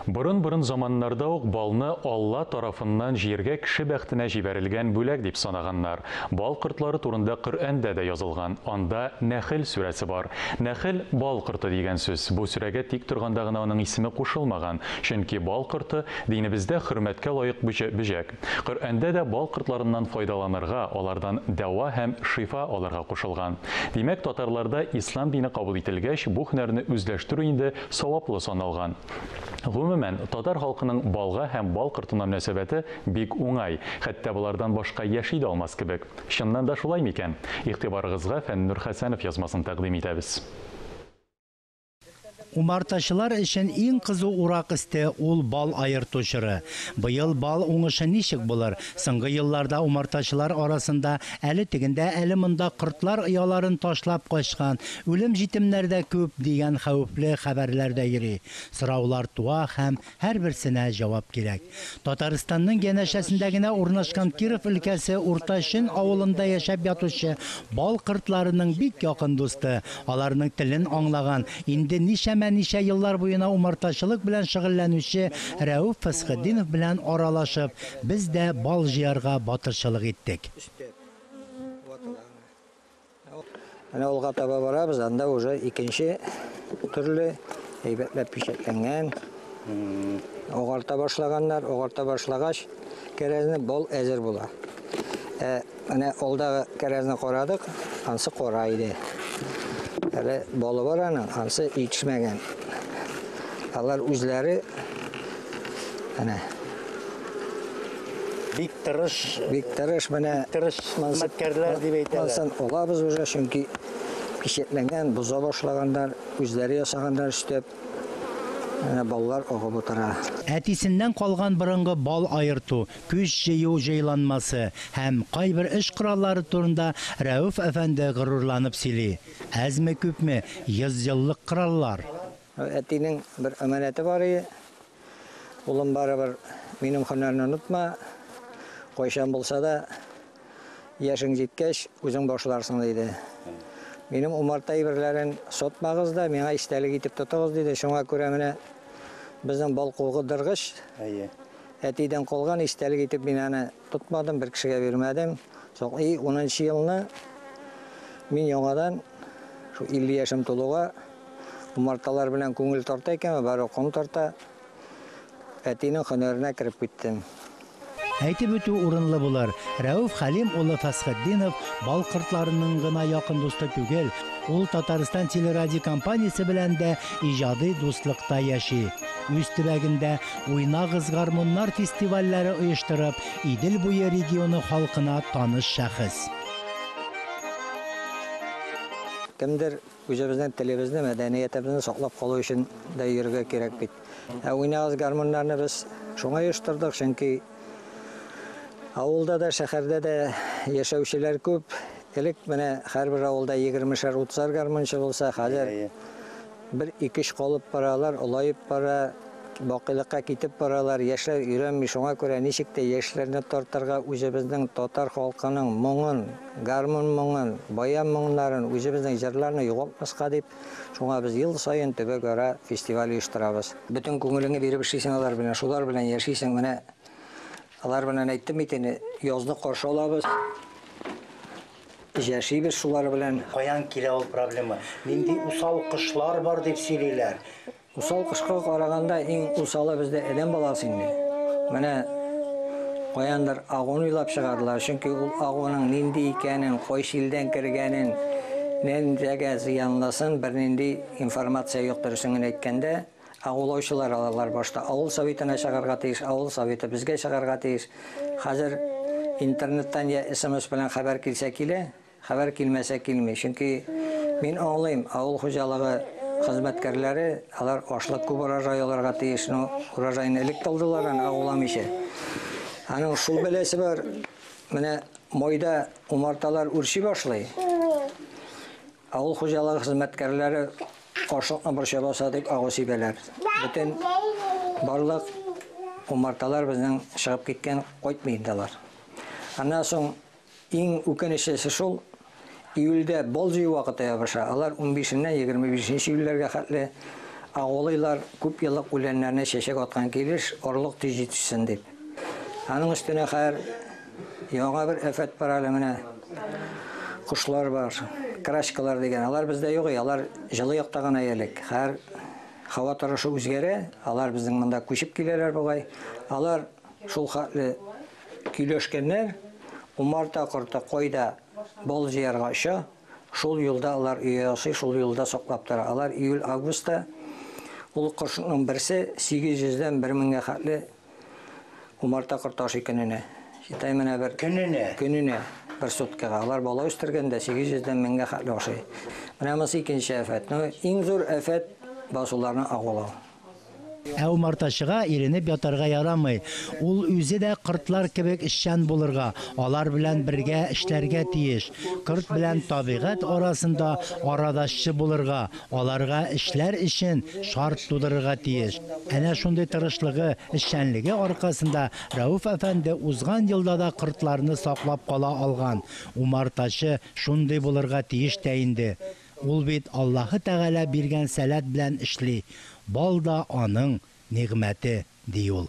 Борын-борын заманнарда ук балны Алла тарафыннан җиргә кеше бәхтенә җибәрелгән бүләк дип санаганнар. Бал кортлары турында Коръәндә дә язылган. Анда Нәхел сүрәсе бар. Нәхел, бал корты дигән сүз. Бу сүрәгә тик торганда гына аның исеме кушылмаган, чөнки бал корты, динебездә хөрмәткә лаек бөҗәк. Коръәндә дә бал кортларыннан файдаланырга, алардан дәва һәм шифа алырга кушылган. Димәк, татарларда ислам дине кабул ителгәч, бу һөнәрне үзләштерү инде Саваплы саналган. Гомумән, татар халкының балга һәм бал кортына мөнәсәбәте бик уңай, хәтта болардан башка яши дә алмас кебек. Чыннан да шулай микән? Игътибарыгызга Фәннүр Хәсәнов язмасын тәкъдим итәбез. Умартачылар өчен иң кызу урак өсте, ул бал аерту чоры. Быел бал уңышы ничек булыр? Соңгы елларда умартачылар арасында әле тегендә, әле монда кортлар ояларын ташлап качкан, үлем җитемнәр дә күп, дигән хәвефле хәбәрләр дә йөри. Сораулар туа һәм һәрберсенә җавап кирәк. Татарстанның янәшәсендә генә урнашкан Киров өлкәсе Урта Шөн авылында яшәп ятучы бал кортларының бик якын дусты, аларның телен аңлаган, инде ничәмә-ничә еллар буена умартачылык белән шөгыльләнүче Рәүф Фәсхетдинов белән аралашып, Без дә бал җыярга батырчылык иттек. Менә алга таба барабыз, анда уже икенче төрле әйбәтләп пичәтләнгән. Агарта башлаганнар, агарта башлагач, кәрәзне бал әзер була. Ә Әнә алдагы кәрәзне карадык, ансы кара иде. Әле балы бар аның, ансы итешмәгән. Алар үзләре әнә бик тырыш, бик тырыш менә тырыш хезмәткәрләр дип әйтәләр. Монсын олабыз уже, чөнки печатләнгән, боза башлаганнар, үзләре ясаганнар эштәп. Әнә баллар агып утыра. Әтисеннән калган борынгы бал аерту, көч җыю җайланмасы һәм кайбер эш кораллары турында Рәүф әфәнде горурланып сөйли, Әзме-күпме, йөзьеллык кораллар! Әтинең бер әманәте бар иде, Улым, барыбер минем һөнәрне онытма, кайчан булса да, яшең җиткәч, үзең башларсың, диде. Минем умарта әйберләрен сатмагыз да, миңа истәлек итеп тотыгыз, диде. Шуңа күрә менә безнең балкугы дыргыч. Әтидән калган истәлек итеп мин аны тотмадым, бер кешегә бирмәдем. Соң и унынчы елны мин яңадан шул 50 яшем тулуга умарталар белән күңел тарта икән, бары ком тарта. Әтинең һөнәренә кереп киттем. Әйтеп үтү урынлы булыр, Рәүф Хәлим улы Фәсхетдинов бал кортларының гына якын дусты түгел, ул Татарстан телерадиокомпаниясе белән дә иҗади дуслыкта яши. Үз төбәгендә Уйнагыз, гармуннар фестивальләре оештырып, Идел буе регионы халкына таныш шәхес. Кемдер үзебезнең телебезне, мәдәниятебезне саклап калу өчен дә йөрергә кирәк бит. Ә Уйнагыз, гармуннарны без шуңа оештырдык, чөнки авылда да, шәһәрдә дә яшәүчеләр күп. Элек менә һәрбер авылда егермешәр-утызар гармунчы булса, хәзер. Бер икеш калып баралар, олаеп бара, бакыйлыкка китеп баралар, яшьләр өйрәнми, шуңа күрә ничек тә яшьләрне тартырга, үзебезнең татар халкының моңын, гармун моңын, баян моңнарын, үзебезнең җырларны югалтмаска дип, шуңа без ел саен төбәкара фестиваль оештырабыз. Бөтен күңелеңне биреп эшлисең алар белән, шулар белән яшисең, менә алар белән әйттем бит инде, язны каршы алабыз. Яшибез шулар белән. Каян килә ул проблема? Нинди усал кошлар бар дип сөйлиләр? Усал кошка караганда иң усалы бездә адәм баласы инде. Менә каяндыр агуын уйлап чыгардылар, чөнки ул агуының нинди икәнен, кайсы илдән кергәнен, нәндәгә зыянлысын бернинди информация юк, дөресен генә әйткәндә. Ә улаучылар алалар башта авыл советына чыгарга тиеш, авыл советы безгә чыгарга тиеш. Хәзер интернеттан я смс белән хәбәр килсә килә, хәбәр килмәсә килми. Чөнки мин аңлыйм, авыл хуҗалыгы хезмәткәрләре, алар ашлык күп урожай алырга тиеш, но урожайны элек тә алдылар аны, ә уламыйча. Аның шул бәласе бар, менә майда умарталар үрчи башлый. Авыл хуҗалыгы хезмәткәрләре ашлыкны борча баса дип агу сибәләр. Бөтен барлык умарталар безнең чыгып киткән, кайтмый инде алар. Аннан соң иң үкенечлесе шул, июльдә бал җыю вакыты ябыша, алар унбишеннән егерме бишенче июльләргә хәтле агулыйлар, күп еллык үләннәрне чәчәк аткан килеш, орлык тиз җитешсен дип. Аның өстенә хәер, Яңа бер афәт бар әле менә. Кошлар бар, крачкалар дигән. Алар бездә юк, алар җылы якта гына элек. Хәзер һава торышы үзгәрә, алар безнең монда күчеп киләләр бугай. Алар шул хәтле көйләшкәннәр, умарта корты кайда бал җыярга оча, шул юлда алар өй ясый, шул юлда саклап тора. Алар июль-августта ул кошның берсе 800 дән 1000 меңгә хәтле Умарта корты ашый көненә. Китай менә бер... Көненә? Көненә, бер суткага. Алар бала үстергәндә 800 дән 1000 гә хәтле ашый. Менә монысы икенче афәт. Ну, иң зур афәт басуларны агулау. Ә умартачыга иренеп ятарга ярамый. Ул үзе дә кортлар кебек эшчән булырга, алар белән бергә эшләргә тиеш. Корт белән табигать арасында арадашчы булырга, Аларга эшләр өчен шарт тудырырга тиеш. Әнә шундый тырышлыгы, эшчәнлеге аркасында Рәүф әфәнде узган елда да кортларны саклап кала алган. Умартачы шундый булырга тиеш тә инде. Ул бит Аллаһы Тәгалә биргән сәләт белән эшли. Бал да аның нигъмәте, ди ул.